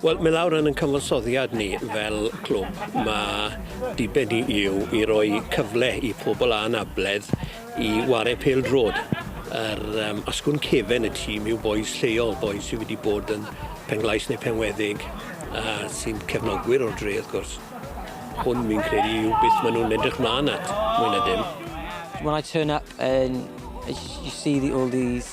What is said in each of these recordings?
Wel mi lawr yn 'yn cyfansoddiad ni fel clwb ma' diben ni yw i roi cyfle i pobol anabledd i ware pêl-drod yr yym asgwrn cefen y tîm yw bois lleol bois sy wedi bod yn Penglais ne' Penweddig a sy'n cefnogwyr o'r dre wrth gwrs. Hwn fi'n credu yw beth ma' nw'n edrych mlan at mwy na dim. When I turn up and you see the all these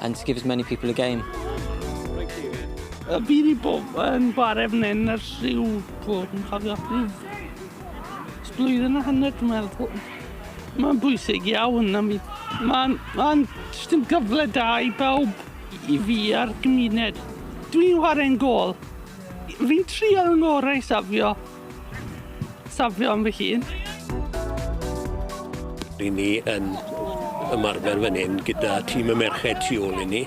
and to give as many people a game. Y bydd i bob yn gwaref nen yr lliw bod yn cofio rhyw blwyddyn a hanner dwi'n meddwl. Mae'n bwysig iawn am fi. Mae'n ma jyst yn gyfle da i bawb i fi a'r gymuned. Dwi'n chwarae'n gol. Fi'n trio yng ngorau safio Safio am fy hun. Ry'n ni yn ymarfer fan hyn gyda tîm y merched tu ôl i ni.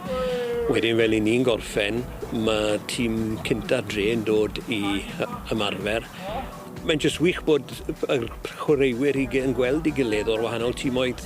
Wedyn fel i ni'n gorffen, mae tîm cynta dre yn dod i ymarfer. Mae'n jyst wych bod y chwaraewyr i yn gweld i gilydd o'r wahanol tîmoedd.